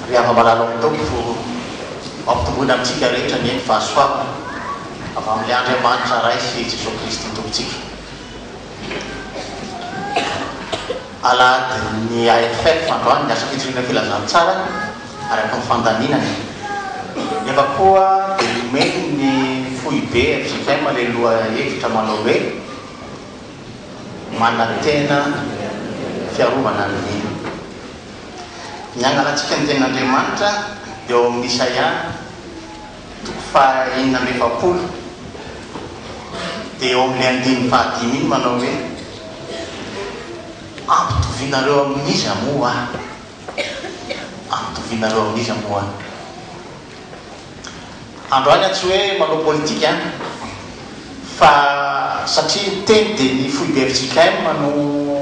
Ry hava-malala ao amin'ny Tompo, ampitomboina amintsika rehetra anie ny fahasoavana avy amin'ilay Andriamanitra Ray sy Jesoa Kristy Tompontsika. Alahadin'ny AFF androany ny Asam-pitoriana Filazantsara araka ny fandaminana. Nefa koa dia nomeny ny Foibe fjkm ilay lohahevitra manao hoe. manantena fiarovana ny mino. Ny angalantsika ny Tenin'Andriamanitra eo amin'ny Isaia toko faha enina amby efapolo dia eo amin'ilay andininy faha dimy iny manao hoe Ampitovianareo amin'iza moa aho? Ampitovianareo amin'iza moa aho? Androany aho tsy hoe manao politika an! fa satria ny teny dia ny foiben'ny JKM no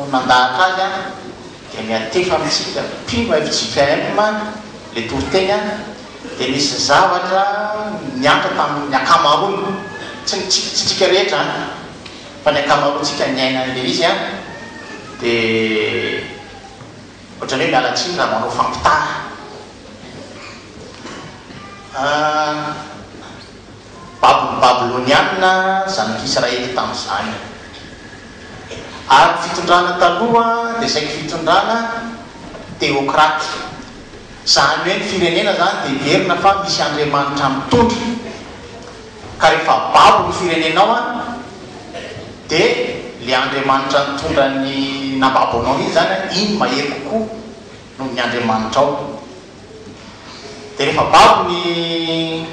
nandahatra azy an! dia miantefa amintsika mpino fjkm le toriteny an! dia nisy zavatra niantra tamin'ny ankamaroany, tsy ny tsy antsika rehetra an! fa ny ankamaroantsika niaina an'ilay izy an! dia. Ohatran'ny hoe miala tsiny raha manao fampitana. Babon'ny Babylonianina zanak'i Israely tamin'izany. Ary ny fitondrana taloha dia saiky fitondrana teokraty. Izany hoe ny firenena izany dia heverina fa misy andriamanitra mitondra. Ka rehefa babo ny firenenao an, de le Andriamanitra nitondra ny nababo anao mihitsy zany an, iny mahery kokoa noho ny Andriamanitrao. De rehefa babo ny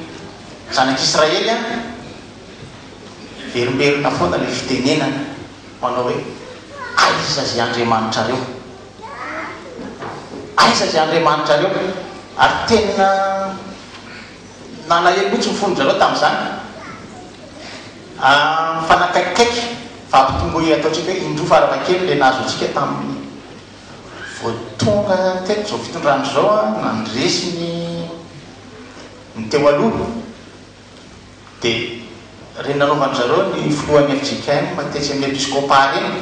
zanak'Israely an, miverimberina foana le fitenenana manao hoe, aiza ze Andriamanitrareo? Aiza ze Andriamanitrareo? Ary tena. Nalahelo mihitsy ny fon-dry zareo tamin'izany. Mifanakaikikaiky fa ampitomboy ataontsika hoe indroa farafahakeliny ilay nahazo antsika tamin'ny vao tonga teto izao fitondrana izao nandresy ny ny teo aloha. Dia ireny nanaovan-dry zareo ny filohan'ny fjkm tetsy amin'ny episkôpà ireny.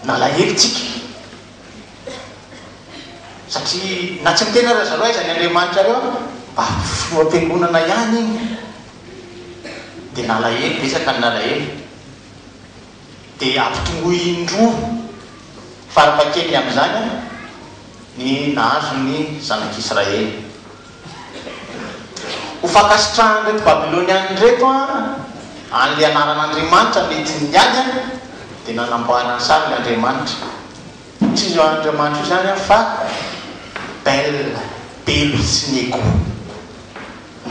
Nalahelo tsika. Satria na tsy miteny aza zareo aiza ny Andriamanitrareo mba filoham-piangonana ihany iny dia nalahelo, betsaka ny nalahelo. Dia ampitomboy indroa farafahakeliny amin'izany ny nahazo ny zanak'Israely. Ho fankasitrahan'ireto Babyloniana ireto an'ilay anaran'Andriamanitra mety niady, dia nanamboarany sariny Andriamanitra. Tsy io Andriamanitra io izany fa Bel, Belo sy Nego.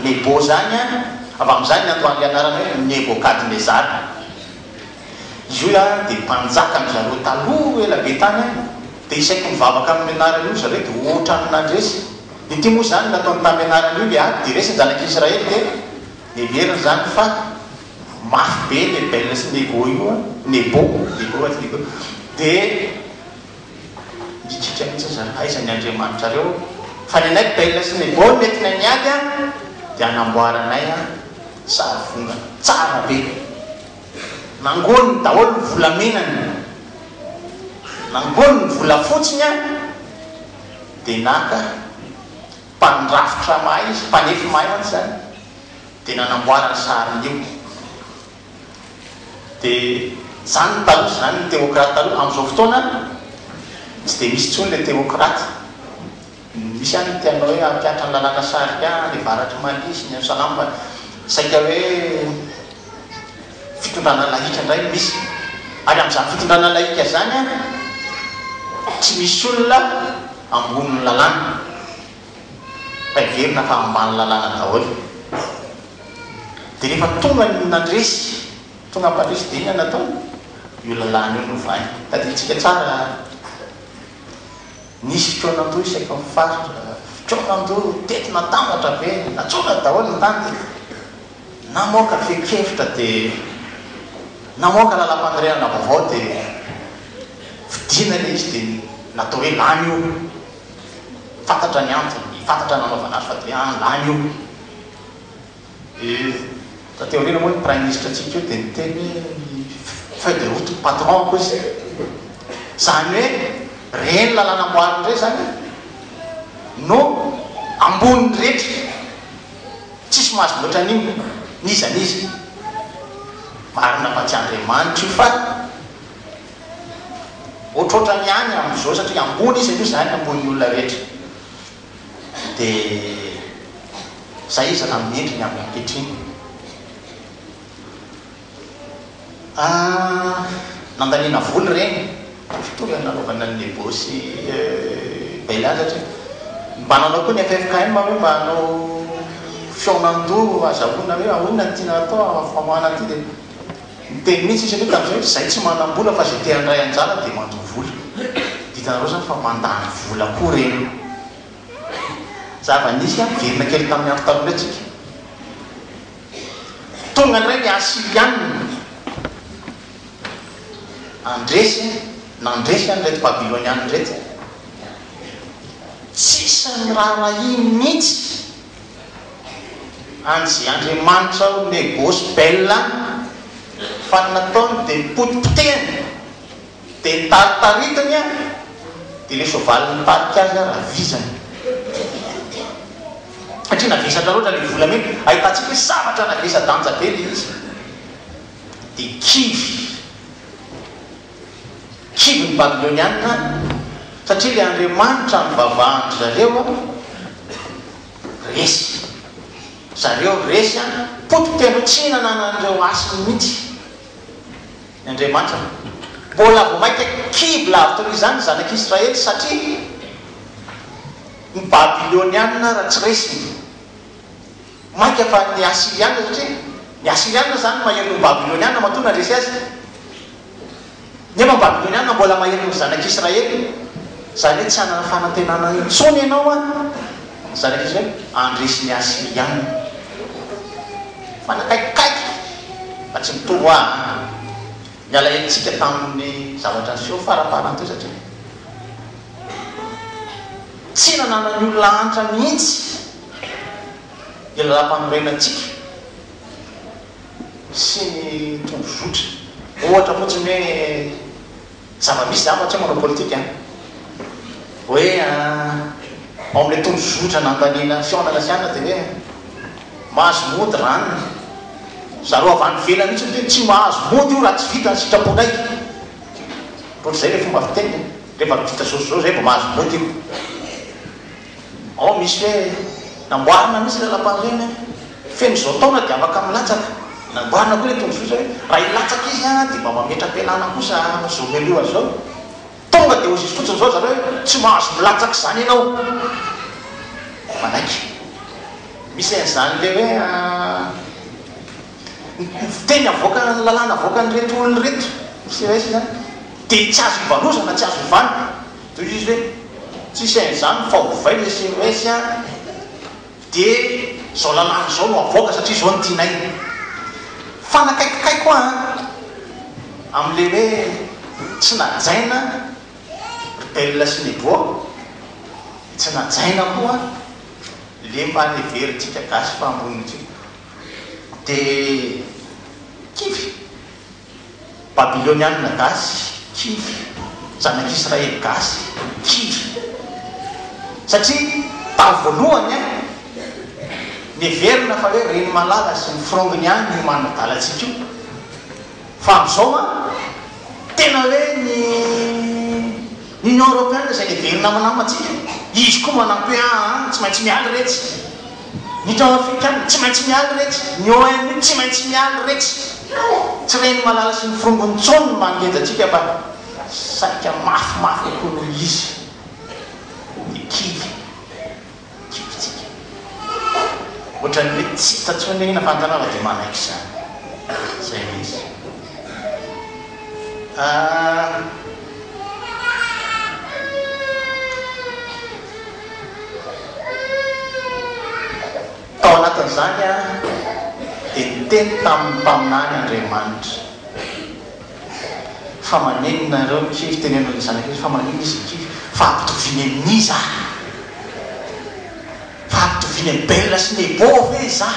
Nebo izany, avy amin'izany niandohan'ilay anarana hoe Nebokadnezara. Izy io dia mpanjakan-dry zareo taloha ela be tany, dia isaky mivavaka amin'io anarana io ry zareo dia hoatran'ny nandresy Ity moa izany nataony tamin'ny anarany io le ady dia resy ny zanak'i Israely dia heveriny izany fa mafy be ny Ebel sy ny Nego io an, Nebo, Nebo ary Nego dia mikiky mihintsy ry zareo aiza ny Andriamanitrareo fa ny anay Ebel sy Nebo no nentinay niady an dia hanamboaranay an sary vongana tsara be. Nangoniny daholo ny volamenany, nangoniny ny volafotsiny an. dia naka mpandrafitra mahay izy, mpanefy mahay mantsy izany, dia nanamboara ny sariny io. Dia izany taloha, izany ny teokraty taloha. Amin'izao fotoana, tsy dia misy intsony ilay teokraty. Misy any ny te hanao hoe hampiantra ny lalàna sarià ny avaratr'i Mali sy ny any Salam fa saika hoe fitondrana lahika indray no misy, ary amin'izany fitondrana lahika izany tsy misy olona ambonin'ny lalàna fa heverina fa ambany lalàna daholo. Dia rehefa tonga ny nandresy, tonga mpandresy dia inona no ataony? Io lalàna io no ovainy. Tadidintsika tsara, nisy fikaonandoha isaky ny faritra, fikaonandoha, teti-natambatra ve, natsoaka daholo ny tany. Namoaka fehin-kevitra dia namoaka lalam-panorenana vaovao dia vidiana ilay izy dia natao hoe lany io, fantatra ny antony, fantatra ny nanaovana azy fa dia hoe an lany io. Dia taty aoriana moa ny praiminisitra antsika io dia niteny hoe feuille de route ny patron ko izy. Izany hoe ireny lalana amboarina ireny izany no ambonin'ny rehetra. Tsisy mahazo mihoatra an'io n'iza n'iza. Marina fa tsy Andriamanitra io fa ohatrohatrany ihany amin'izao satria ambony izy aloha izany ambonin'ny olona rehetra dia izay izy raha amin'ny endriny amin'ny ankehitriny. Ah nandaniana vola ireny mitovy amin'ny nanaovana ny nebôsy Bella satria mba nanao koa ny ffkm hoe mba hanao fihaonan-doha hazahoana hoe ahoana ny tiana hatao amin'ny famoahana an'ity dia niteny mihitsy izy aloha tamin'izay hoe izahay tsy manam-bola fa izay te handray anjara dia mandoa vola. Hitanareo izany fa mandany vola koa ireny. Zava-nisy an, miverina kely tamin'ny andro taloha indray tsika. Tonga indray ny Asyrianina, nandresy e, nandresy an ireto Babylonianina ireto e. Tsisy niraharahiany mihitsy an'izay andriamanitra ao Negôsy, Bel any, fa ny nataony dia nipotipotehiny. Dia nitaritaritina aho, dia ilay soavaly nitarika azy ary avizany. Satria navesatra loatra ilay volamena, ahitantsika hoe zavatra navesadanja be ilay izy. Dia kivy, kivy ny Babylonianina, satria ilay Andriamanitra nivavahan-dry zareo resy. Zareo resy, potipotihan'ireo tsy nanana an'ireo hasiny mihitsy. ny Andriamanitra no mbola vao mainka kibo lavitra noho izany ny zanak'i Israely satria ny Babylonianina raha tsy resiny mainka fa ny Asirianina satria ny Asirianina izany mahery noho ny Babylonianina matoa nandresy azy nefa ny Babylonianina mbola mahery noho ny zanak'i Israely izany hoe tsy hanana fanantenana intsony ianao an! Izany ange izao hoe handresy ny Asiriana. Manakaikikaiky fa tsy mitombo aa. Ny alahelontsika tamin'ny zavatra niseho faramparany teo satria tsy nananan'ny olona hanitra mihitsy ny Lalàmpanorenantsika sy ny tondrozotra. Ohatra fotsiny hoe Zava misy zavatra manao politika an! Hoe an, ao amin'ilay tondrozotra nandaniana fihaonana sy anona dia hoe mahazo mody ranona. Zareo avy any ivelany mihitsy miteny tsy mahazo mody io raha tsy vita ny sitraponay. Ohatr'izay ilay fomba fiteniny an! Rehefa vita izao sy izao izay vao mahazo mody io. Ao misy hoe, namboarina mihitsy ilay lapan'ireny feno izao taona dia afaka milatsaka. Namboarina koa ilay tombotsoa izao hoe, raha hilatsaka izy dia mba mametra-pialana kosa amin'izao mialoha izao. Tonga dia oz'izy fotsiny izao ry zareo hoe, tsy mahazo milatsaka izany ianao. Dia manaiky. Misy an'izany ilay hoe, ny fiteny avoaka, ny lalàna avoakan'ireto olona ireto, misy resy izany, dia tsy azo ivanozana, tsy azo ovana. Tohizo hoe, tsisy an'izany fa ovay le sms a! de zao lalàna zao no avoaka satria zao no tianay! Fa nakaikikay koa an! Amle hoe tsy najaina ry Belle sy Nebo, de tsy najaina koa le mba neverintsika gasy fa ambony ity! De kivy! Babylonianina gasy, kivy, zanak'Israely gasy, kivy. Satria tao voalohany an, neverina fa hoe reny malala sy ny frongony ihany no manadala antsika io. Fa amin'izao an, tena hoe ny. Union Européenne izay neverina hamanama antsika, izy koa manampy hoe aa tsy maintsy mialy retsy ny tao afrikana, tsy maintsy mialy retsy ny ONU, tsy maintsy mialy retsy. Tsy ren'i Malala sy ny frongony intsony ny mangeja antsika fa saika mafimafy kokoa noho izy ny kivy. kibontsika. Ohatran'ny hoe tsy hita intsony ilay hena fa an-tanàna dia manaiky izany. Izay no izy. Tao anatin'izany dia niteny tamin'ny mpaminany Andriamanitra. Fa maneno nareo ny kivy, teneno ny zanaka izy fa manino izy ny kivy? Fa ampitoviany amin'iza? Fa ampitoviany amin'i Bela sy Nebo ve iza?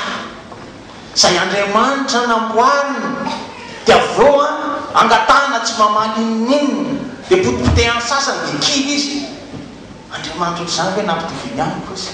Izay andriamanitra namboariny, dia avy eo an, angatahana tsy mamaly inoninona, dia potipotehany sasany dia kivy izy? Andriamanitra ohatr'izany ve no ampitoviany amiko izy?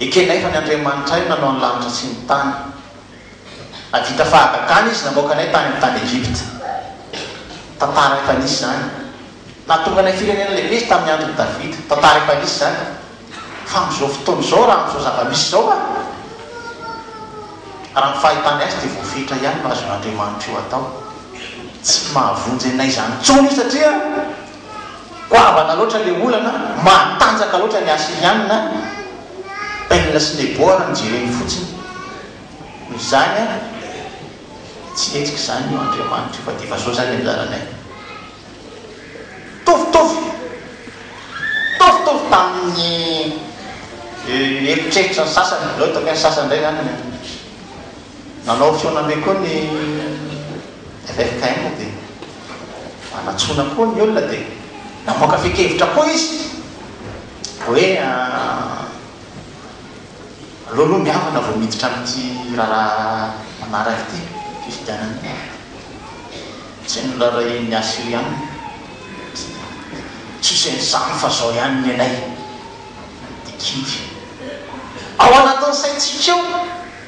Ekena efa ny Andriamanitray nanao ny lanitra sy ny tany. Nahavita fahagagana Izy namoaka anay tany amin'ny tany Egypta. Tantara efa nisy izany. Nahatonga anay firenena lehibe Izy tamin'ny andron'i Davida. Tantara efa nisy izany. Fa amin'izao fotoana izao, raha amin'izao zava-misy izao, raha ny fahitanay azy dia voafetra ihany no azon'Andriamanitra io atao. Tsy mahavonjy anay izany intsony io satria. Goavana loatra ilay olana, matanjaka loatra ny Asiriana, Bel sy Nebo raha ny jereny fotsiny. Noho izany, tsy hetsika izany io Andriamanitra io fa dia efa zao izany nianjaranay. Mitovitovy, mitovitovy tamin'ny eritreritra ny sasany, aleo ataoko hoe ny sasany indray izany no. Nanao fihaonana be koa ny ffkm dia nanatsoina koa ny olona dia namoaka fehin-kevitra koa izy hoe aleo aloha mihavana vao miditra amin'ity raharaha manaraka ity fifidianana ity. Izay no noraharahian'ny Assyriana. Tsisy an'izany fa izao ihany ny anay. Dikidy. Ao anatin'ny saintsika ao.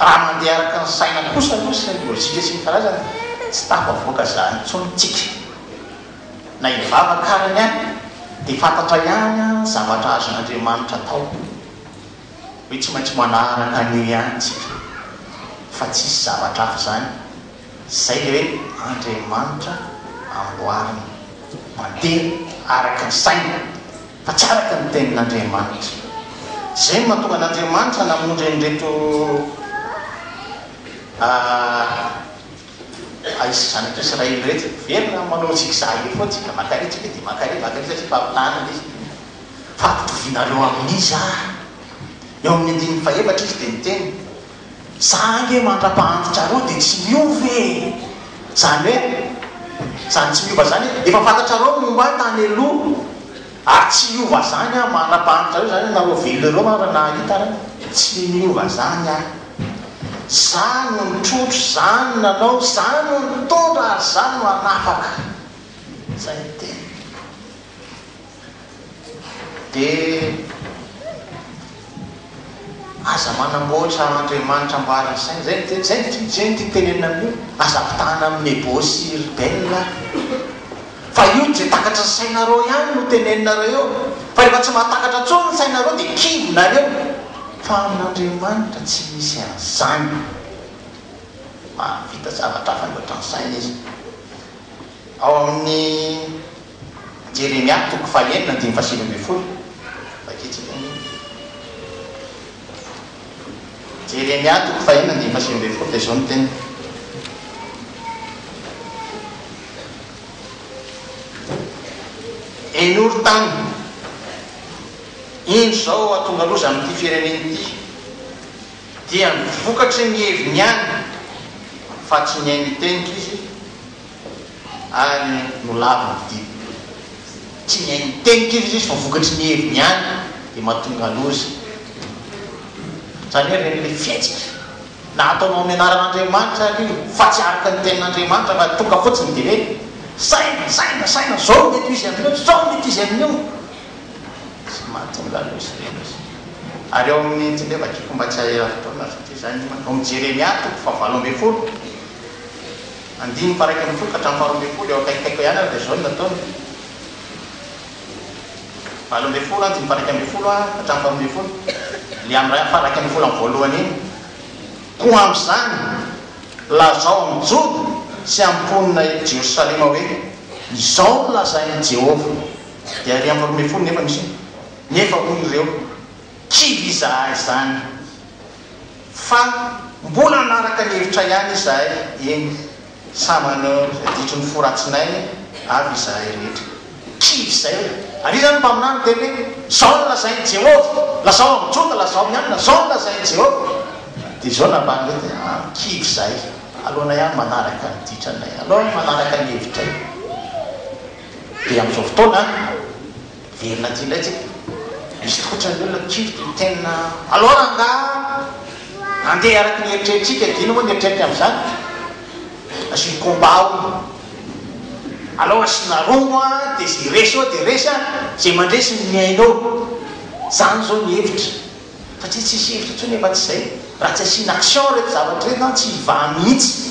Raha mandeha araka ny saina kosa aloha sy ny lojika sy ny karazany dia tsy tafavoaka izany intsony tsika. Na hivavaka ara ny ahy dia fantatra ihany an ny zavatra azon'Andriamanitra atao hoe tsy maintsy manaraka an'io ihany tsika fa tsisy zavatra hafa izany izay ilay hoe Andriamanitra amboarina mandeha araka ny saina. Fa tsy araka ny tenin'Andriamanitra. Izay no mahatonga an'Andriamanitra namonjy an'ireto Ahy sy zanak'i Israely ireto. Miverina amin'ny manao zigzag eo foana isika, maka ery isika dia maka ery, maka ery satria fampitahana ilay izy. Fa ampitovianareo amin'iza aho? Eo amin'ny andininy fahefatra izy dia niteny, Za ange mandrapahanditra reo de tsy miova e! Zany hoe zany tsy miova zany hoe efa fantatrareo ny momba ahy tany aloha ary tsy hiova zany aho mandrapahanditra reo zany hoe nareo velona reo ary nahita ary tsy miova zany aho! Za no nitrotro, za no nanao, za no nitondra ary za no hanafaka! Zay ny teniko. Dia aza manamboatra andriamanitra amboarin'ny saina. Izay no tiany, izay no tiany tenenina amin'io. Aza ampitahana amin'ny Nebo sy Ribel aho. Fa io izay takatry ny sainareo ihany no tenenina eo. Fa rehefa tsy mahatakatra intsony ny sainareo dia kivina any eo. Fa amin'Andriamanitra tsy misy an'izany. Mahavita zavatra hafa mihoatra ny saina Izy. Ao amin'ny Jeremia toko fahenina andininy fahasivy ambin'ny folo, vakintsika anie io. Jeremia toko fahenina andininy fahasivy ambin'ny folo dia izao ny teniny. Henoro tany, indro izao hahatonga loza amin'ity firenena ity, dia ny vokatry ny heviny ihany, fa tsy ny ainy hitenitra izy, Ary no lavo ny fidirana. Tsy ny hainy miteny kivy izy fa vokatry ny heviny ihany dia mahatonga loza. Izany hoe ireny ilay fihetsika na ataonao amin'ny anaran'Andriamanitra ary io fa tsy araka ny tenin'Andriamanitra fa tonga fotsiny dia hoe saina, saina, saina, izao no mety ho izy amin'io, izao no mety ho izy amin'io. Tsy mahatonga loza ireny izy. Ary ao amin'ny, teo ve vakiko mba tsy hahera fotoana fa toy izany, ao amin'ny Jeremia toko fahavalo ambin'ny folo. Andininy paraika mifoka hatramin'ny faharoa ambin'ny folo, eo akaikikaiko eo ihany ary dia izao no nataony, valo ambin'ny folo, andininy paraika ambin'ny folo hatramin'ny faharoa ambin'ny folo, ilay amin'ny paraika amin'ny volana voalohany iny. Koa amin'izany, lazao amin'ny Joda sy amin'ny mponina eto Jerosalema hoe, Izao no lazain'i Jehovah, dia ary amin'ny faharoa ambin'ny folo nefa misy hoe, Nefa hoy ireo, Kivy izahay izany! Fa mbola hanaraka ny hevitra ihany izahay eny sa maneho izay ditry ny fo ratsinay avy izahay rehetra? Kivy izay! Ary iza no mpaminany miteny hoe, Izao no lazain'i Jehovah! Lazao amin'ny Joda, lazao amin'ny alina, Izao no lazain'i Jehovah! Dia izao no nambarany hoe, Dia an, kivy izay! Aleonay ihany manaraka ny ditranay, aleo ihany manaraka ny hevitray. Dia amin'izao fotoana, Hiverina aty indray tsika. Misy loatra ny olona mikiry tia miteny. Alors angaha handeha araka ny eritreritrintsika dia inona moa ny eritreriny amin'izany? Asio combat hono. Alao asiana romo a, dia izay resy eo dia resy a, izay mandresy no mihaino eo. Izany izao ny hevitra. Satria tsisy hevitra intsony efa tsy izay. Raha tsy asiana action ireto zavatra ireto an, tsy hivaha mihitsy.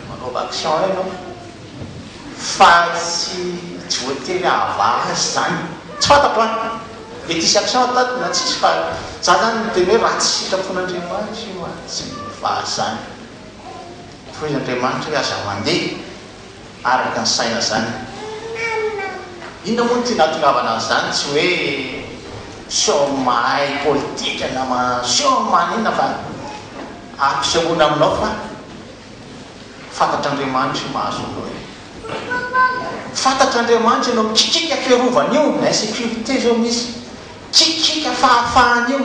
Manaova action ianao fa tsy voatery ahavaha azy zany. Tsy fantatro an! Mety hisy action ataoko na tsisy fa za zany miteny hoe raha tsy sitrapon'Andriamanitra io an, tsy mivaha zany. Hoy Andriamanitra hoe aza mandeha araka ny saina zany. Inona moa no tiana hatongavana an'izany? Tsy hoe sao mahay politika na sao maninona fa ampisehoana aminao fa. Fantatr'Andriamanitra io mahazo anao io. Fantatr'Andriamanitra ianao mikikika fiarovana io, insécurité zao misy, kikika fahafahana io,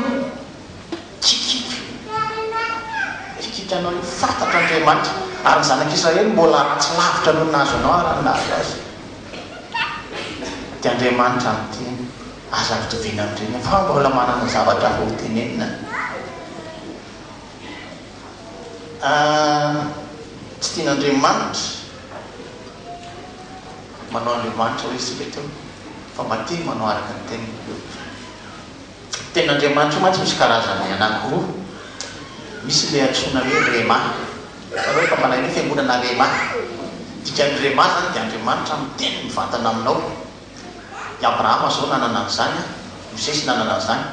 kikika kikikanao io, fantatr'Andriamanitra ary ny zanak'Israely mbola ratsy lavitra noho ny nahazo anao ary ny nahazo azy. Dia Andriamanitra miteny, aza ampitoviana amin'ireny fa mbola manana zavatra hafa hotenenina. Aah tsy tian'Andriamanitra manao Andriamanitra hoe isika ito fa mba tia manao araka ny teniny. Ny tenin'Andriamanitra io mantsy misy karazany anankiroa, misy ilay antsoina hoe Rhema, hitanao efa malaina io fiangonana Rhema, ny dikan'ny Rhema izany dia Andriamanitra miteny mivantana aminao. I Abrahama izao nanana an'izany, i Mosesy nanana an'izany.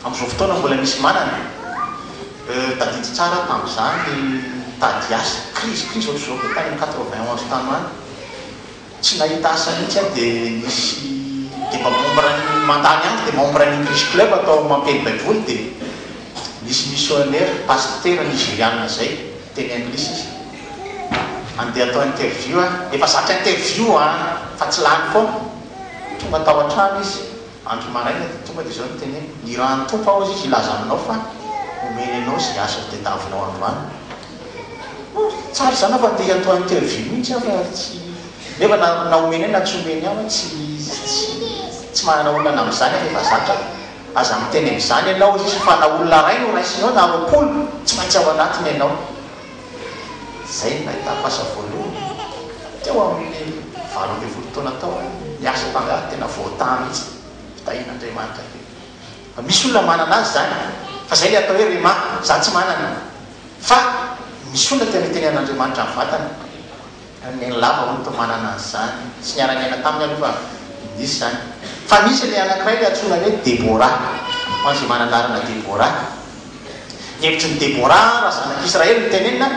Amin'izao fotoana mbola misy manana e. Euh, tadidio tsara aho tamin'izaho ny tady asa, krizy, krizy ohatr'izao koa tany amin'ny quatre-vingt onze tano any. Tsy nahita asa mihitsy aho dia nisy, dia mba membre an'ny, mandany andro dia membre an'ny English Club atao amin'ny Mampely Baiboly dia nisy missionnaire, pasitera nigeriana izay, teny Anglisy izy. Mandeha atao interview aho. Efa zatra interview an! Fa tsy lany foana. Tonga tao an-trano izy andro maraina dia tonga dia izao no teneniny, Ny ran'ny Tompo aozy izy hilaza aminao fa homeny anao izay asa ho tadiavinao androany. Oh, tsara izany fa te atao interview mihitsy aho fa tsy, nefa na na homeny ahy na tsy homeny ahy, tsy tsy tsy manana olana amin'izany aho fa efa zatra aho. Aza miteny an'izany ianao, hozy izy, fa na olona iray no raisinao na roapolo, tsy maintsy ao anatiny ianao. Izay no nahitako asa voalohany. Teo amin'ny valo ambin'ny folo taona tao aho, ny asa mpangaly tena voataha mihitsy, fitahian'Andriamanitra io. Fa misy olona manana azy izany, fa izay ilay atao hoe rhema, izaho tsy manana. Fa misy olona tena itenenan'Andriamanitra ny vatany. Ny lava hono toa manana an'izany. Tsy niara-niaina taminy aloha fa nisy izany. Fa nisy ilay anankiray ilay antsoina hoe Debora. Ho an'izay manana anarana Debora. Ny hevitry ny Debora raha zanak'Israely no tenenina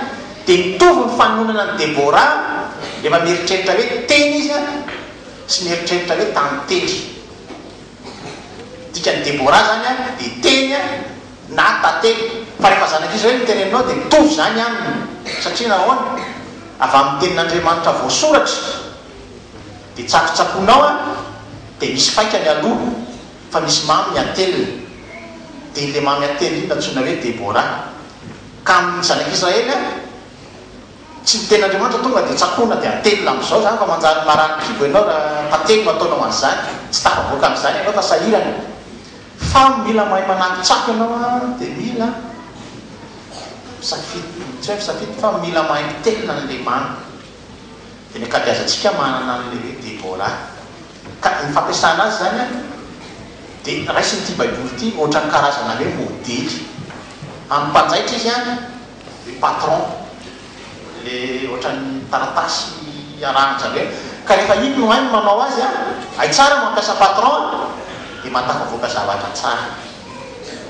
dia mitovy ny fanononana an'i Debora rehefa mieritreritra hoe teny izy sy mieritreritra hoe tantely. Dikan'i Deborah izany aminy dia teny na tantely. Fa rehefa zanak'izy ireny no teneninao dia mitovy izany aminy. Satria nahoana? Avy amin'ny Tenin'Andriamanitra voasoratra. Dia tsakotsakoinao an, dia misy faika ny aloha, fa misy mamy ny atelina. Dia ilay mamy atelina iny no antsoina hoe Deborah. Ka amin'ny zanak'Israely an. Tsy ny tenin'Andriamanitra tonga dia tsakoana dia atelina amin'izao izany fa manjary marary kibo ianao raha tantely no ataonao an'izany, tsy tafavoaka an'izany ianao fa sahirana. Fa mila mahay manangi-tsako ianao an, dia mila misafidy, tsy hoe misafidy fa mila mahay mitelina an'Andriamanitra. Dia ny ankabeazantsika manana an'ilay hoe Debora. Ka ny fampiasana azy izany an, dia raisin'ity Baiboly ity ohatran'ny karazana hoe modely. Amin'ny mpanjaitra izy an. ny patron le ohatran'ny taratasy arahan-jareo iny ka rehefa iny no hainy manao azy a, hay tsara mampiasa patron a, dia mahatafavoaka zavatra tsara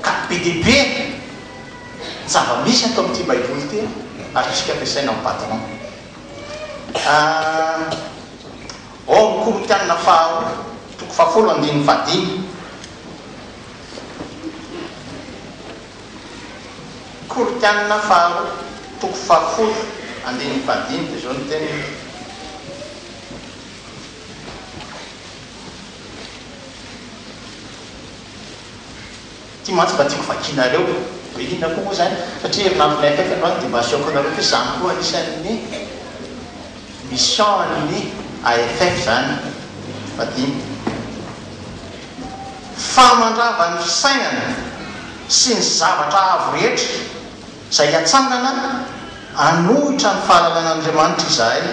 ka be dia be ny zava-misy ato amin'ity baiboly ity a, azontsika ampiasaina amin'ny patron a ao amin'ny korintianina faharoa toko fahafolo andininy fahadimy. Koritianina faharoa toko fahafolo andininy fahadimy dia izao ny teniny, Ity mantsy mba tiako vakianareo, hoe inona koa moa izany? Satria herinandro may akaiky androany dia mba asehoko anareo fa izany koa anisan'ny mission an'ny AFF izany, fahadimy. fa mandrava ny fisainana sy ny zavatra avo rehetra izay hatsangana hanohitra ny fahalalan'Andriamanitra izahay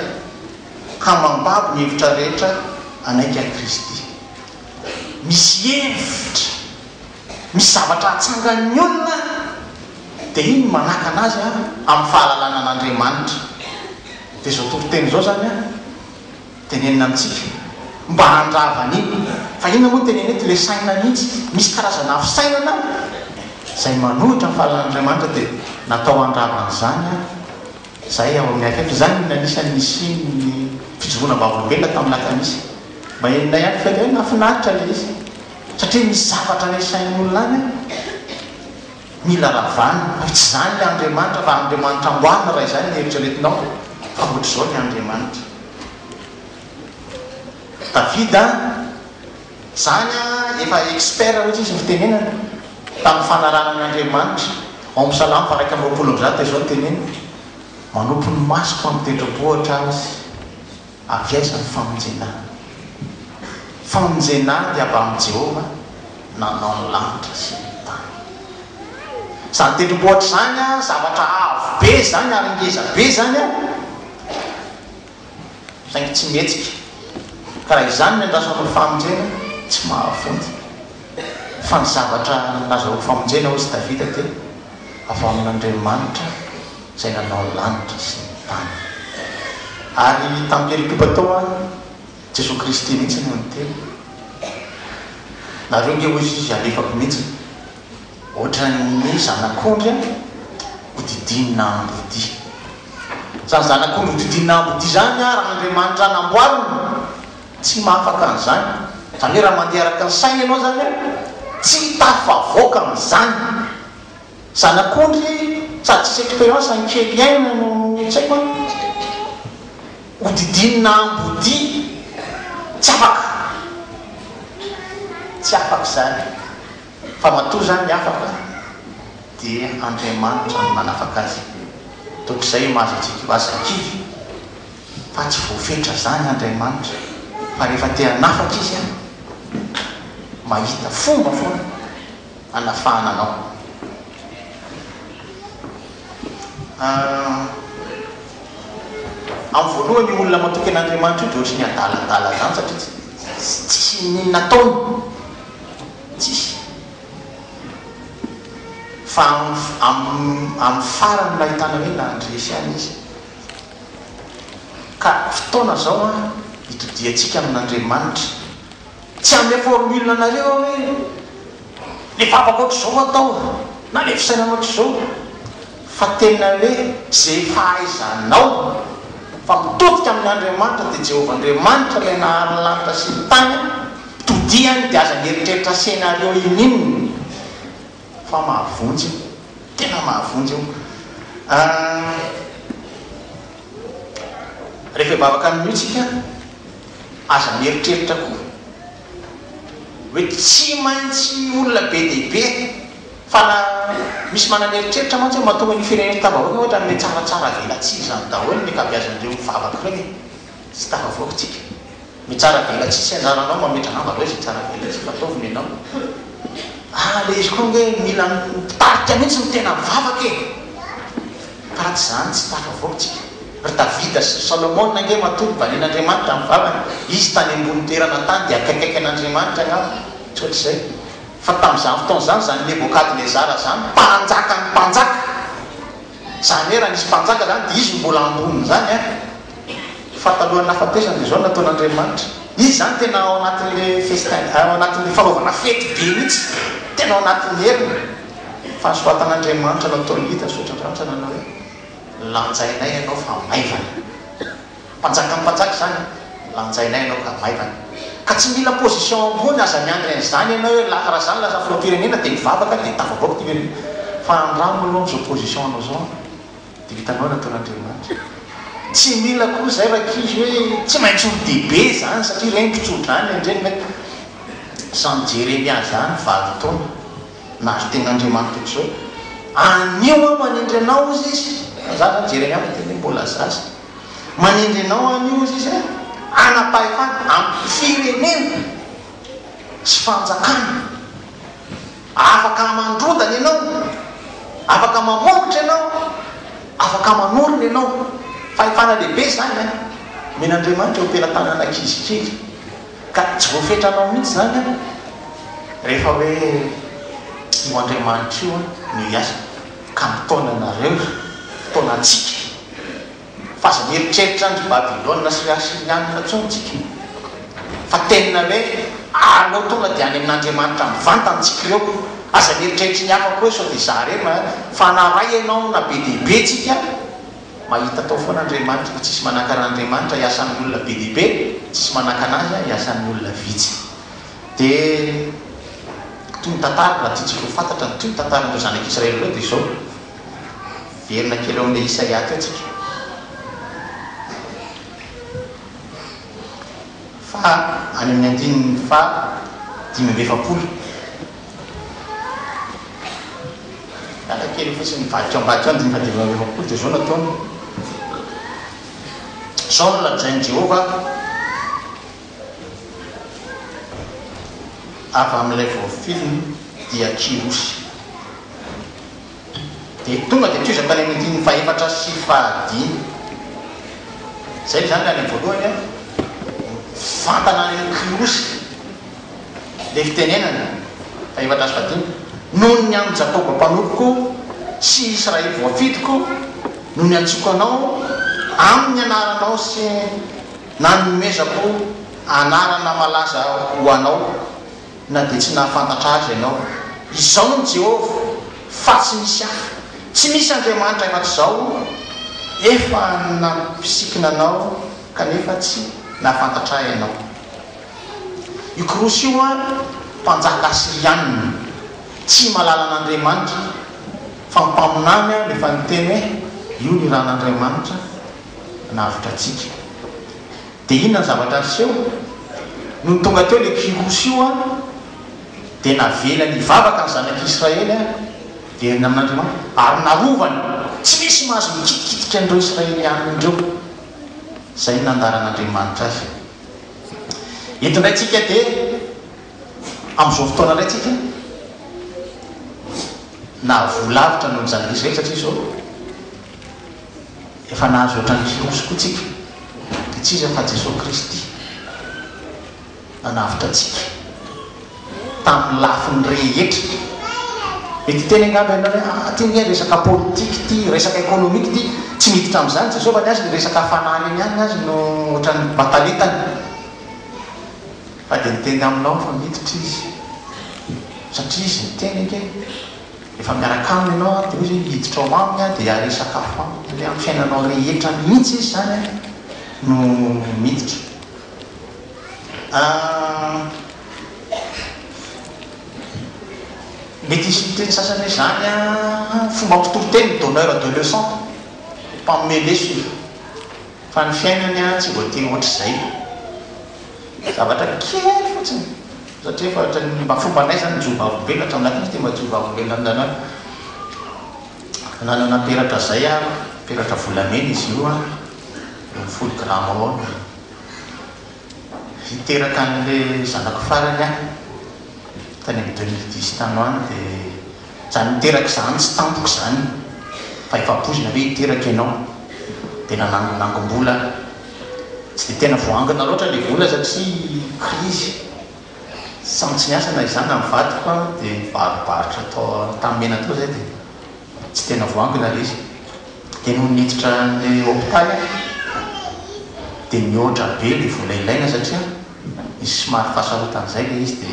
ka mambabo ny hevitra rehetra hanaiky an'i Kristy. Misy hevitra, misy zavatra hatsangan'ny olona dia iny manakana azy amin'ny fahalalana an'Andriamanitra. Dia izao toriteny izao izany an! Tenenina amintsika mba handrava an'iny fa inona moa tenenina eto? Ilay saina mihitsy. Misy karazana afo sainana izay manohitra ny fahalalàn'Andriamanitra dia natao handrava an'izany izay ao amin'ny Akaiky. Izany no anisan'ny nisian'ny fijoroana am-bavolombelona tamin'ny Latanisa. Mba henonay ihany fehiny hoe nahafinaritra ilay izy satria misy zavatra nesain'ny olona any. Mila ravana, ary tsy izany ilay Andriamanitra, raha Andriamanitra amboarina, raha izany no eritreretinao, fa hoatr'izao ny Andriamanitra. Davida, izany an, efa expert hoatr'izy ny fitenenana, tamin'ny fanarahana an' Andriamanitra, ao amin'ny Salamo faha iraika amby roapolo amby zato dia izao no teneniny, Manopy ny masoko amin'ny tendrombohitra Azy. Avy aiza ny famonjena? Famonjena dia avy amin'i Jehovah nanao ny lanitra sy ny tany. Izany tendrombohitra izany, zavatra avo be izany ary ngeza be izany an, saingy tsy mihetsika. Ka raha izany ny andrasako ny famonjena, tsy mahavonjy. Fa ny zavatra nazahoako famonjena, hoy Davida, dia avy amin'Andriamanitra. Izay nanao ny lanitra sy ny tany. Ary tamim-pielom-poba tao an, Jesoa Kristy mihitsy no niteny. Nareo nge hoy izy alefako mihitsy. Ohatran'ny zanak'ondry an, hodidinina ambodia. Izany zanak'ondry hodidinina ambodia izany an, raha Andriamanitra namboarina, tsy mahafaka an'izany. Izany hoe raha mandeha araka ny sainy ianao izany an, tsy tafavoaka amin'izany. Zanak'ondry sady tsisy expérience any kely iainana no tsy haiko an! Hodidinina ambodia tsy afaka! Tsy afaka izany fa matoa izany afaka dia Andriamanitra no nanafaka azy. Toa izay mahazo antsika io, aza kivy fa tsy voafetra izany Andriamanitra fa rehefa te hanafaka Izy an! Mahita fomba foana. hanafahana anao. Amin'ny voalohany io olona matoky an'Andriamanitra io dia ohatry ny adaladala izany satria tsy tsisy inon'inona ataony. Tsisy. Fa amin'ny farany no ahitana hoe nandresy ahy izy. Ka fotoana izao an hitodiantsika amin'Andriamanitra. Tsy handeha forme ul anareo aho hoe le vavaka ohatr'izao atao na le fisainana ohatr'izao fa tena hoe ze fahaizanao fa mitodika amin' Andriamanitra dia Jehovah Andriamanitra ilay nahary ny lanitra sy ny tany todihany dia aza mieritreritra scenario ininona fa mahavonjy io tena mahavonjy io ahh rehefa hivavaka amin'io tsika Aza mieritreritra koa hoe tsy maintsy olona be dia be fa na misy manana eritreritra mantsy hoe mahatonga an'io firenena io tafaverina ohatra an'ilay tsaratsara velatsihy izany daholo ny ankabeazan'ireo mivavaka ireo e! tsy tafavoaka tsika ny tsara velatsihy tsy anjaranao mametra angamba ve izay tsara velatsihy fa ataovy nenao ah ilay izy koa ange mila mpitarika mihintsy ny tena mivavaka e! Tahaka izany tsy tafavoaka tsika. Ry Davida sy ry Solomona ange matoa nivalian'Andriamanitra ny vavany, izy tany ambony toerana tany dia akaikaiky an'Andriamanitra angamba ohatr'izay. Fa tamin'izany fotoana izany, izany Nebokadnezara izany, mpanjakan'ny mpanjaka, izany hoe raha nisy mpanjaka izany dia izy no mbola ambonin'izany an! Fa talohan'ny nahafatesany dia izao no nataon'Andriamanitra. Izy izany tena ao anatin'ilay festin, ao anatin'ilay fanaovana fety be mihitsy, tena ao anatin'ny heriny. Fahasoavan'Andriamanitra nataon'i Lida zotra andraritra nanao hoe, Lanjainay ianao fa maivana. Mpanjakan'ny mpanjaka izany e! Lanjainay ianao ka maivana. Ka tsy mila position ambony aza miandry an'izany ianao hoe la raha izany lasa filoham-pirenena dia mivavaka dia tafavoaka ity firenena. Fa andramo aloha amin'izao position anao izao an! Dia hitanao ny nataon'Andriamanitra. Tsy mila koa izay rankizy hoe tsy maintsy ho lehibe izany satria ireny mpitso-drano ireny. Samy Jeremia izany valo taona. na ry tegn'Andriamanitra Jesoa, anio aho manendry Anao hozy izy, fa za zany jereny aho fa dia le mbola zaza, manendry Anao aho anio hozy izy a, hanam-pahefana amin'ny firenena sy fanjakana, afaka hamandrodana Ianao, afaka mamongotra Ianao, afaka manorina Ianao, fahefana lehibe zany an, omen'Andriamanitra eo am-pelatanan'ankizy kely. Ka tsy voafetra anao mihitsy izany an! Rehefa hoe io Andriamanitra io an no hiasa ka mitaona anareo, mitaona antsika, fa aza mieritreritra an-dry Babylona sy ry Asirianina intsony tsika, fa tenina hoe aleo tonga dia any amin' Andriamanitra mivantana tsika ireo, aza mieritreritra ny hafa koa hoe sao dia zah re, fa na Ray ianao na be dia be tsika, Mahita atao foana Andriamanitra fa tsisy manakana Andriamanitra iasan'ny olona be dia be, tsisy manakana azy an iasan'ny olona vitsy. Dia toy ny tantara, raha tiantsika ho fantatra ny toy ny tantaran'ireo zanak'Israely ireo dia izao, miverina kely eo amin'ilay Isaia teo tsika, fa any amin'ny andininy faha dimy amby efapolo. Miala kely fotsiny ny vadiko ambadika ao ny dimy faha dimy amby efapolo dia izao no ataony, Izao no lazain'i Jehovah avy amin'ilay voafiliny i Akilosy, Dia tonga dia tohiza tany amin'ny andininy fahefatra sy fahadimy. Izay izany ilay any am-voalohany an, Mivantana any Akilosy. dia fitenenana, fahefatra sy fahadimy, Noho ny an'i Jakoba mpanompoko sy i Israely voafidiko no niantsoako anao amin'ny anaranao sy nanomezako anarana malaza ho anao, na dia tsy nahafantatra azy ianao. Izaho no Jehovah, fa tsy misy hafa. Tsy misy andriamanitra afa-tsy izaho. Efa nampisikina anao, kanefa tsy nahafantatra ahy ianao. Io Kyrosy io an, mpanjaka Asyrianina, tsy malala an'Andriamanitra, fa mpaminany an, efa niteny hoe io ny ran'Andriamanitra navotra antsika. Dia inona ny zavatra niseho? Nony tonga teo ilay Kyrosy io an, dia navelany hivavaka ny zanak'Israely an, very amin'Andriamanitra, ary narovany, tsy misy mahazo mikitikitika an'ireo Israelianina ireo. Izay no nandaran'Andriamanitra azy. Eto indray tsika dia amin'izao fotoana indray tsika na voa lavitra noho izany rehetra izany satria izao efa nahazo ohatran'ny kirosy koa tsika dia tsy iza fa Jesoa Kristy nanavotra antsika. tamin'ny lafiny rehetra. Mety hiteny angamba ianao hoe, ah, ity ange resaka politika ity, resaka ekonomika ity, tsy miditra amin'izany Jesoa fa ny azy ny resaka hafanana eny ihany ny azy no ohatran'ny batanitany. Fa dia niteny aminao aho fa miditra Izy, satria Izy niteny ange, efa miaraka Aminy ianao an, dia hoy Izy hoe, hiditra ao Aminy aho dia haresaka afo Aminy, hoe amin'ny fiainanao rehetra mihitsy Izy izany an no miditra. Mety hisy miteny sasany hoe izany fomba mpitoriteny ny donneur de leçon, mpanome lesona, fa ny fiainany tsy voatery ohatr'izay. Zavatra kely fotsiny, satria efa ohatran'ny mba fombanay izany ny Jiovavolombenona, hatry amin'izay tsy dia mba Jiovavolombenona amin'izany hoe nanana peratra izay aho, peratra volamena izy io, eo amin'ny folo grama eo. hiteraka anle zanako farany aho tany am deux mille dix tany ho any de zany niteraka zany tsy tampoka zany fa efa poizina ve hiteraka enao de nanangonangom-bola aho tsy de tena voangona loatra le vola satria krizy samy tsy niasa na izaho na ny vadiko an de nibarobarotra tao Antanimena tao zay de tsy tena voangona le izy dia nony niditra ny hopitaly aho dia nihoatra be ilay vola ilaina satria nisy somary fahasarotana izay ilay izy dia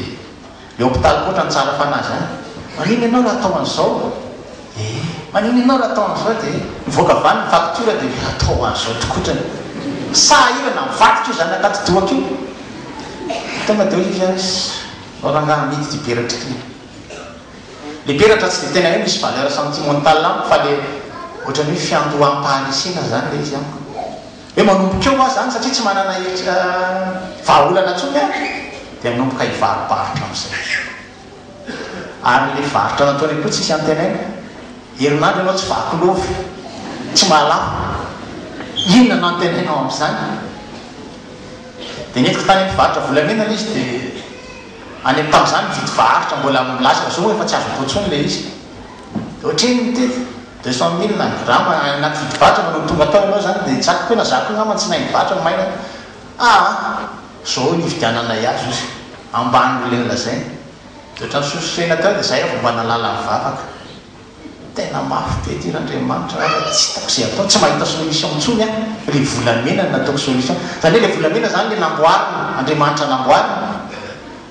ilay hopitaly koa otrany tsara fanahy izany manina ianao raha atao an'izao ee manina ianao raha atao an'izao dia nivoaka avy any ny facture dia hoe atao an'izao tokoa otrany sahirana mivadika io zanaka atidohako io tonga dia hoy izy hoe rangahy amidy ity peratra ity Le peratra tsy de tena hoe misy valeur sentimentale amiko fa le ohatran'ny hoe fiandoham-paharesena zany le izy amiko. Hoe manomboka eo aho zany satria tsy manana hevitra vahaolana intsony aho de hanomboka hivaro-barotra amin'izay. Ary le varotra nataony koa tsisy antenaina, herinandro ianao tsy vaky lova, tsy malaho, inona no antenainao amin'izany? De nentiko tany amin'ny mpivarotra volamena le izy de. any am tam zany mividy varotra mbola milaza zao efa tsy azoko intsony le izy de otrino mitety deux cent mille angamba anaty vidy varotra no tonga tao enao zany de zaka tena zaka io ngamba tsy nainy varotra no maina ah zao no ividiananay azy ozy ambany le nolazainy de otrany sosotena teo de zay aho vao mba nalala nivavaka Tena mafy be ty Randriamanitra ara tsy hitako ze atao tsy mahita solution intsony aho le volamena no nataoko solution zany hoe le volamena zany le namboarina Andriamanitra namboarina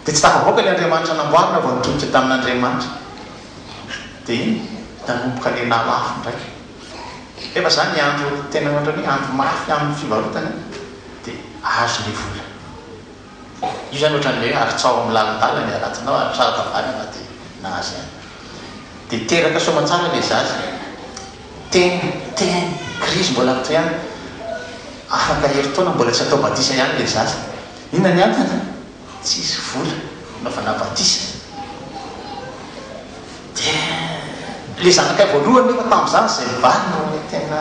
de tsy tafavoaka le Andriamanitra namboarina vao nitodika tamin'Andriamanitra de iny nanomboka le nalafo ndraiky nefa zany andro tena ohatrany hoe andro mafy amin'ny fivarotana de azo le vola. Io izany ohatran'ny hoe haritsaho amin'ny lalindala ny haratinao ary saro tavanana dia nahazo ihany. Dia teraka soamantsara ilay zaza. Teny, teny, krizy mbola mitohy ihany. Afaka herintaona mbola tsy atao batisa ihany ilay zaza. Inona ny antony? Tsisy vola hanaovana batisa. Dia ilay zanakay voalohany nefa tamin'izany izay mivaly no tena.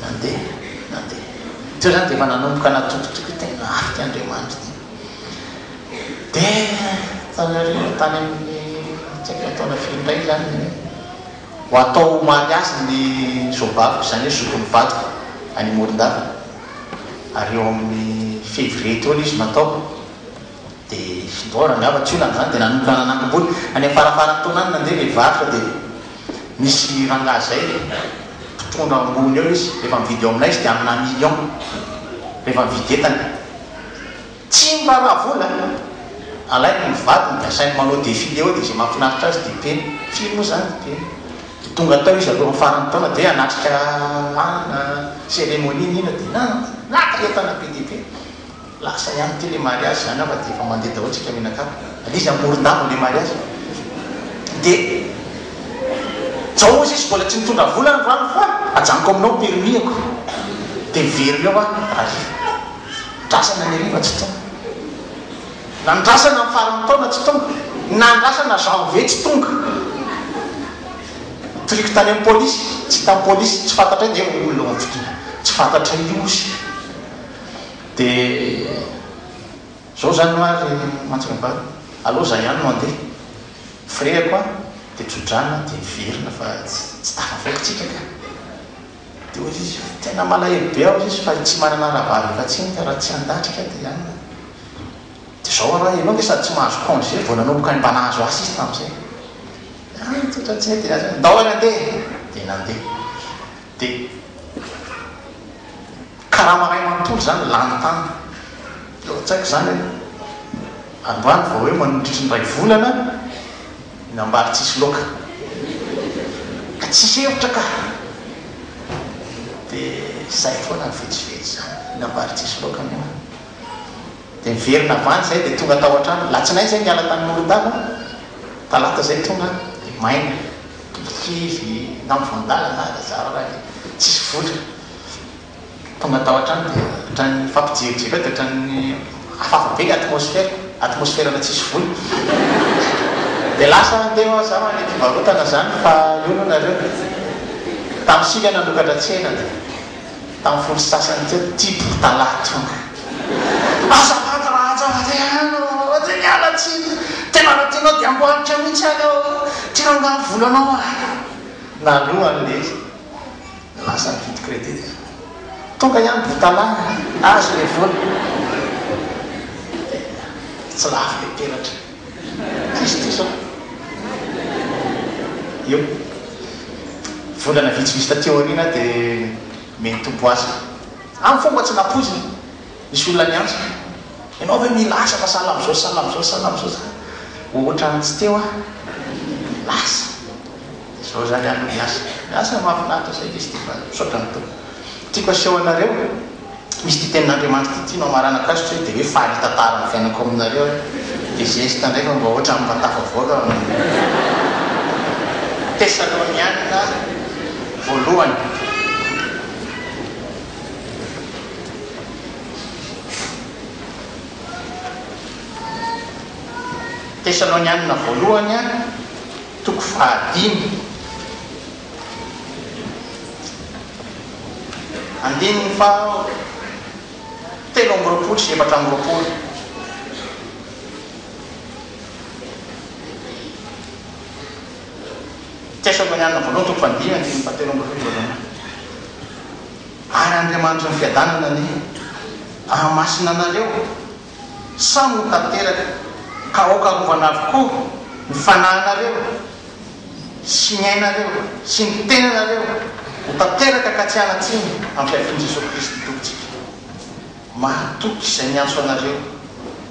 Nandeha, nandeha. Teo izany dia efa nanomboka natokotoko tena afika Andriamanitra ity. Dia tany aoriana, tany amin'ny tsy haiko ny taona firy indray izany dia ho atao omaly azy ny zobaviko, izany hoe zokin'ny vadiko any Morondava, ary eo amin'ny février teo ilay izy no atao. Dia fidoara angamba tsy olana izany dia nanomboka nanangom-bolo. Any amin'ny faramparan'ny taona any nandeha ilay varotra dia nisy rangahy izay mpitondra ambony eo izy, rehefa mividy eo aminay izy dia amina million rehefa mividy entana. Tsy miraharaha vola, alainy ny vadiny dia asainy manao défilé eo dia izay mahafinaritra azy dia peny. Firy moa izany ny peny? Dia tonga tao izy avy eo amin'ny faran'ny taona dia hoe hanatrika an, cérémonie ny ina dia naka entana be dia be. Lasa ihany ty le mariazy zany angamba de efa mandeha daholo tsika mianakavy ary izy amoron-dava le mariazy de jaozy izy mbola tsy nitondra vola androany fa ajanoko aminao permis-ako de miverina eo aho hariva andrasana ny hariva tsy tonga nandrasana ny faran'ny taona tsy tonga nandrasana janvier tsy tonga nitoriako tany amin'ny polisy tsy hitan'ny polisy tsy fantatray dia olona ao amin'ny fitokana tsy fantatray ozy Dia zao zany hoa ry Mantsingabary, aleo za ihany no handeha. Firehako an! Dia tso-drano dia niverina fa tsy tafavoakitsika ka! Dia hoy izy, tena malahelo be aho hoy izy fa tsy manana rahavavy afa-tsy ka raha tsy handatrika dia hanina. Dia zao ara, ianao nge sady tsy mahazo congé vao nanomboka ny mba nahazo asa izy tamin'izay. Dia any tso-drano tsy nety dia aza, ndao ary handeha e! Dia nandeha. Dia karama iray manontolo izany lany tany. Teo an-tsaiko izany hoe, androany vao hoe mandritry ny iray volana ny ambary tsisy loaka. Ka tsisy hevitra ka! Dia izay foana ny vitsivitsy izany, ny ambary tsisy loaka moa. Dia niverina avy any izay dia tonga tao an-trano. Alatsinainy izay niala tany Morondago aho, talata izay tonga aho dia maina, kivy, na mivoandalana na zara raha ny tsisy vola. Tonga tao an-trano dia ohatran'ny nifampijerijero eo dia ohatran'ny hafahafa be ny atmosfera, atmosferana tsisy vola. Dia lasa aho teo aho, zara ilay mpivarotana izany fa io no nareo. Tamin'ny sivy aho nanokatra tsena dia. Tamin'ny folo sy sasany teo, tia mpitalahy tonga. Azafady raha hajanjary ihany ô! Dia miala tsiny! Tena raha tianao dia amboarika mihitsy any aho ô! Ty rangahy ny volanao a! Naloha ny lery, lasa nividy credit. Tonga ihany botalahy a! Azo ilay vola. Dia tsy lafo ilay peratra. Tsisy diso an! Io. Volana vitsivitsy taty aoriana dia me nitombo asa. Amiko fomba tsy nampoizina. Nisy olona niantso hoe, Ianao ve mila asa fa sahala amin'izao sy sahala amin'izao sy sahala amin'izao sa hoatran'ny tsy teo an! Lasa. Dia izao izany ary no miasa. Miasa mahafinaritra saika izy ity fa misaotra ny Tompo. Tiako aseho anareo, misy ity tenin'Andriamanitra ity, tianao hamarana Christ hoe dia hoe faly hitantara ny fiainako aminareo aho, dia zesta indray fa mba ohatran'ny mba tafavoaka amin'ny Tesalonianina voalohany. Tesalonianina voalohany, toko fahadimy. Andininy faha telo amby roapolo sy efatra amby roapolo. Ts Sobonianina Voalohany toko faha dimy andininy faha telo amby roapolo voalohany. Ary Andriamanitry ny fiadanana anie hahamasina anareo. Samy ho tanteraka, ka aoka arovana avokoa ny fanahinareo sy ny ainareo sy ny tenanareo ho tanteraka ka tsy hanatsiny ampiavian'i Jesoa Kristy Tompontsika. Mahatoky izay miantso anareo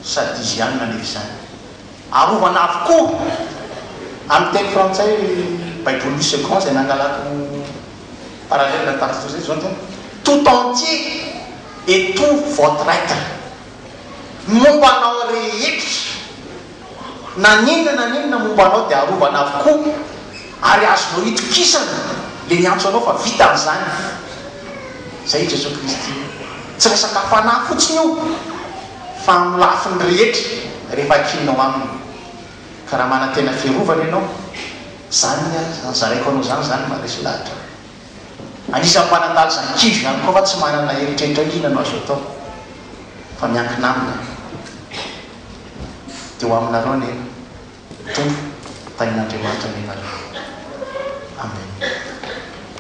sady Izy ihany manery izany. Arovana avokoa! Amin'ny teny frantsay, Baibolin'ny Segond izay nangalako raha reny la tante Josette zao tena tout entier et tout votre être momba anao rehetra na n'inona na n'inona momba anao dia arovana avokoa ary azonao itokisana le miantso anao fa vitany zany zay i Jesoa Kristy tsy resaka fanahy fotsiny io fa amin'ny lafiny rehetra rehefa akinao aminy Ka raha manantena fiarovana ianao, zany ny ahy zany, zaraiko anao zany, zany maresy lahatra. Anisan'ny manandalza ny kizo ihany koa fa tsy manana eritreritra hoe inona no azo atao fa miankina aminy dia ho aminareo anie Tompo tahian'Andriamanitra ny anareo. Amen.